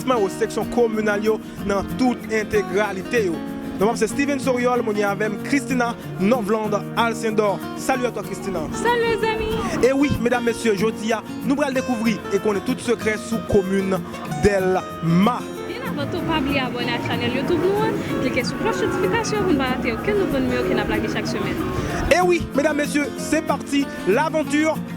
Sman yo, seksyon kominal yo nan tout entegralite yo. Non pam se Steven Soriol, moun ye avèm Christina Novland Alcindor. Salut à toi Christina. Salut les amis. E wi medam mesye jodi a nou pral dekouvri e konnen tout sekrè sou komin Delma. Byen avan tou pa bliye abòne ak chanèl youtube nou an, klike sou klòch notifikasyon pou n pa rate okenn nouvo nimewo ke nap lage chak semèn. E wi medam mesye se parti l'aventure.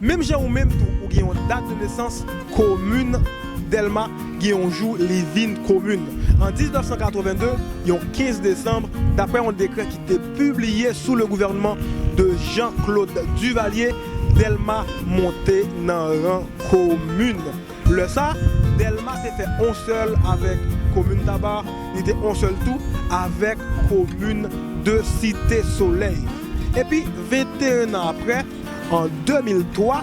Menm jan ou menm tou ou gen yon dat de nesans komin Dèlma gen yon jou li vin komin. An 1982, yon 15 desanm, daprè yon dekrè ki te pibliye sou le gouvènman de Jean Claude Duvalier, Dèlma monte nan ran komin. Lè sa, Dèlma te fè on sèl avèk komin Taba, li te on sèl tou avèk komin de Site Solèy. Epi 21 nan aprè, An 2003,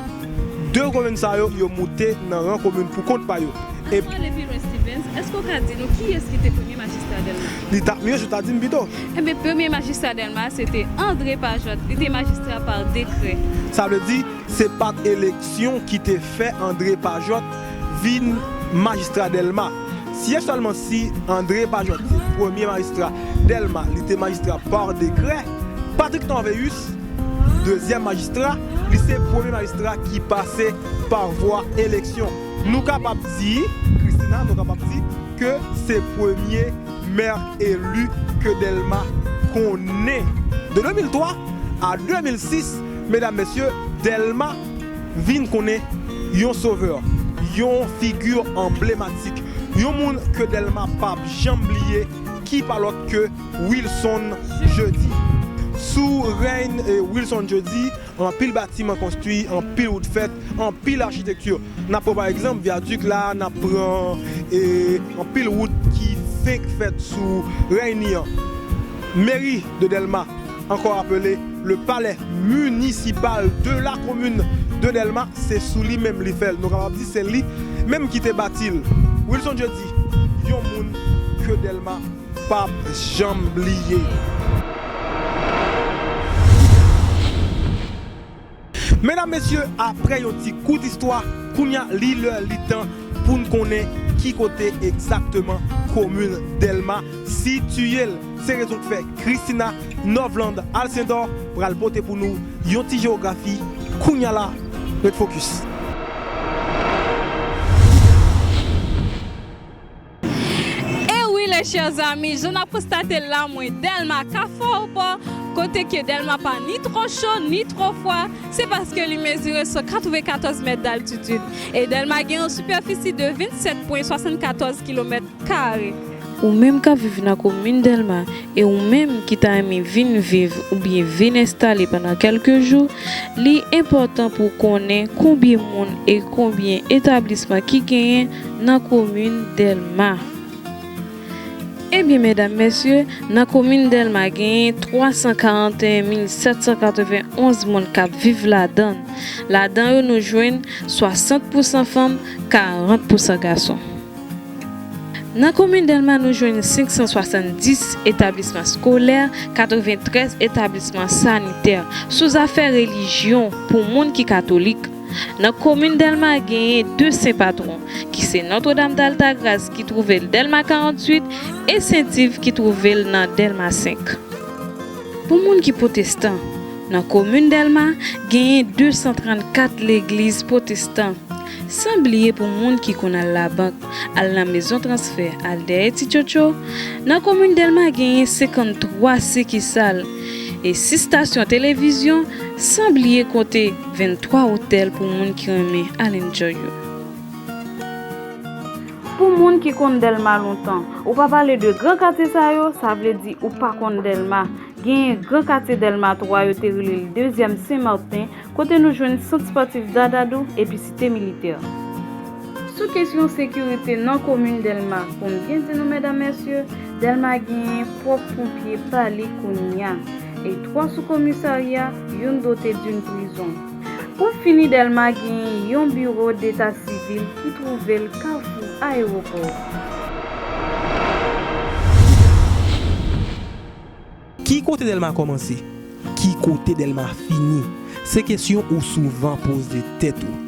2 komin sa yo, yo moute nan ran komin pou kont pa yo. Nan yo pale pi lwen Stevens, èske ou ka di nou kiyès ki te premye majistra Dèlma? Li ta mye si w ta di m pito. Enben, premye majistra Dèlma a, se te André Pajot. Li te majistra pa dekrè. Sa vle di, se pa t eleksyon ki te fè André Pajot vin majistra Dèlma. Si e sèlman si André Pajot te premye majistra Dèlma, li te majistra pa dekrè, Patrick Torvéus, dezyèm majistra, li se premye majistra ki pase pa vwa eleksyon. Nou kapab di, Christina, nou kapab di ke se premye mè eli ke Dèlma konnen. De 2003 a 2006, medam, mesye, Dèlma vin konnen yon sovè, yon figi anblematik, yon moun ke Dèlma pap janm bliye ki pa lòt ke, Wilson Jeudi Sou règn Wilson Jeudi, anpil batiman konstwi, anpil wout fèt, anpil achitekti. N ap pran pa egzanp vyadik la, n ap pran anpil wout ki fenk fèt sou règn li an. Meri de Dèlma, ankò apele le palè minisipal de la komin de Dèlma, se sou li menm li fè l. Nou kapab di se li menm ki te bati l. Wilson Jeudi, yon moun ke Dèlma. Pap janm bliye. Medam mesye aprè yon ti kout istwa kounya li lè li tan poun konnen ki kote egzakteman komin Dèlma sitiye l se rezon k fè Christina Novland Alcindor pral pote pou nou yon ti jewografi kounya la ret fokis. E wi les chers amis, jan nap konstatel la mwen Delma ka fò ou pa, kote ke Delma pa ni twò cho, ni twò fwa, se paske li mezire sou 94 mèt d'altitid. E Delma gen yon sipèfisi de 27 pwen 74 kilomèt kare. Ou menm kap viv nan komin Delma e ou menm ki ta renmen vin viv oubyen vin enstale pandan kelke jou, li enpòtan pou w konnen konbyen moun e konbyen etablisman ki genyen nan komin Dèlma. Ebyen medam mesye, nan komin Dèlma genyen 341 mil 791 moun k ap viv ladan l. Ladan yo nou jwenn 60 pousan fanm, 40 pousan gason. Nan komin Dèlma nou jwenn 570 etablisman skolè, 93 etablisman sanitè. Sou zafè relijyon, pou moun ki katolik, Nan komin Dèlma genyen 2 sen patwon ki se Nòtredam Daltagras ki twouve l Dèlma 48 e Sent Iv ki twouve l nan Dèlma 5. Pou moun ki pwotestan, nan komin Dèlma genyen 234 legliz pwotestan, san bliye pou moun ki konn al labank, al nan mezon transfè, al dèyè ti tchotcho, nan komin Dèlma genyen 53 sikisal e 6 stasyon televizyon san bliye kote. 23 hotel pou moun ki renmen al enjoy yo. Pou moun ki konn delma lontan. Ou pa pale de gran katye sa yo, sa vle di ou pa konn delma. Genyen gran katye delma 3 yo te rele l dezyèm sen marten kote nou jwenn sant sportif dadadou epi site militè. Sou kesyon sekirite nan komin Dèlma, pou m byen di nou medam mesye, Dèlma genyen pwòp ponpye pa li kounya, e 3 sou komisarya, youn dote d'une prizon. Pou fini Dèlma genyen yon biro deta sivil ki twouve l kafou ayewopò. Ki kote Dèlma kòmanse? Ki kote Dèlma fini? Se kesyon ou souvan poze tèt ou.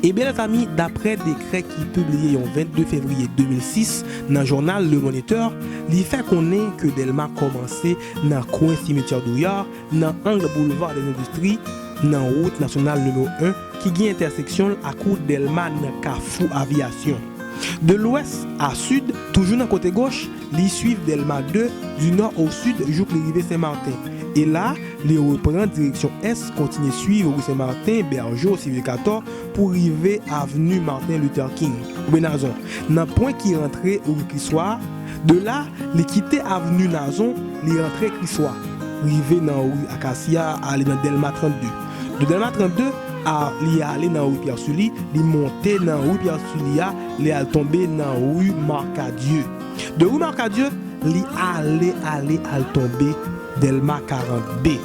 Ebyen mèzanmi, daprè dekrè ki pibliye yon 22 fevriye 2006 nan jounal Le Moniteur, li fè konnen ke Dèlma kòmanse nan kwen Cimetière Douillard, nan ang Boulevard des Industries, nan wout nasyonal nimewo 1 ki gen entèseksyon l ak wout Dèlma nan kafou Avyasyon. De lwès a sid, toujou nan kote goch, Li swiv Dèlma 2 di nò o sid jouk li rive Senmarten. E la, li repran direksyon ès, kontinye swiv ri Senmarten, Bèjo, Silvekatò, pou rive avni Marten Luther King, oubyen Nazon, nan pwen ki rantre ri Kriswa a. De la, li kite avni Nazon, li rantre Kriswa, rive nan ri Akasya a, ale nan Dèlma 32. De Dèlma 32 a, li ale nan ri Pyè Sili, li monte nan ri Pyè Sili a, li al tonbe nan rue Marcadieu. De rue Marcadieu, li ale, ale al tonbe Delma 40 B.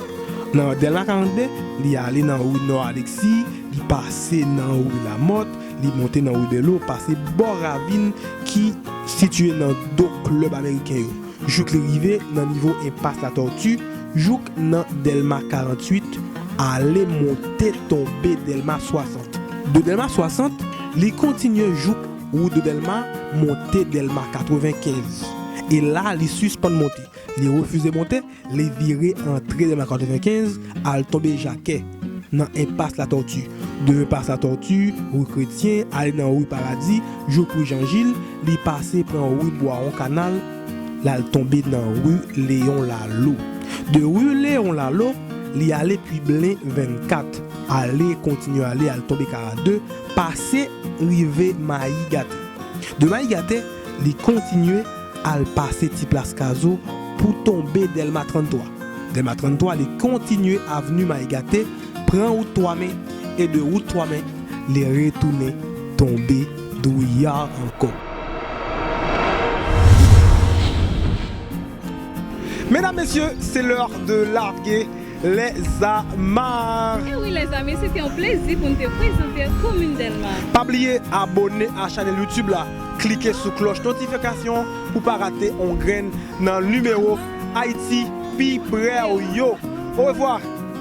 Nan Delma 40 B, li ale nan rue Nò Aleksi, li pase nan rue Lamòt, li monte nan rue Belo, pase bò ravin ki sitiye nan do klèb ameriken yo. jouk li rive nan nivo enpas Latortue, jouk nan Dèlma 48, ale monte tonbe Dèlma 60. De Dèlma 60, li kontinye jouk wout de Dèlma monte Dèlma 95. E la li sispann monte. Li refize monte, li vire antre Dèlma 95, al tonbe Jakè, nan enpas Latortue. De enpas Latortue, rue Chrétien, ale nan rue Paradis, jouk rue Jean Gilles, Li pase pran ru Bwawon Kanal, l al tonbe nan ru Leyon Lalo. De ru Leyon Lalo, li ale pui Blen 24, ale, kontinye ale, al tonbe 42, pase rive Mayi Gate. De Mayi Gate, li kontinye al pase ti plas Kazo pou tonbe Dèlma 33. Dèlma 33, li kontinye avenu Mayi Gate. Pran wout twa men e de wout twa men li retounen tonbe douyar ankò. Medam mesye se leur de large les amar. Ewi lèzami se te yon plezi pou n te prezante w komin Dèlma. Pa bliye abone a chanèl youtube la klike sou klòch notifikasyon an pou pa rate yon grenn nan nimewo Ayiti pi prè w yo orevwa.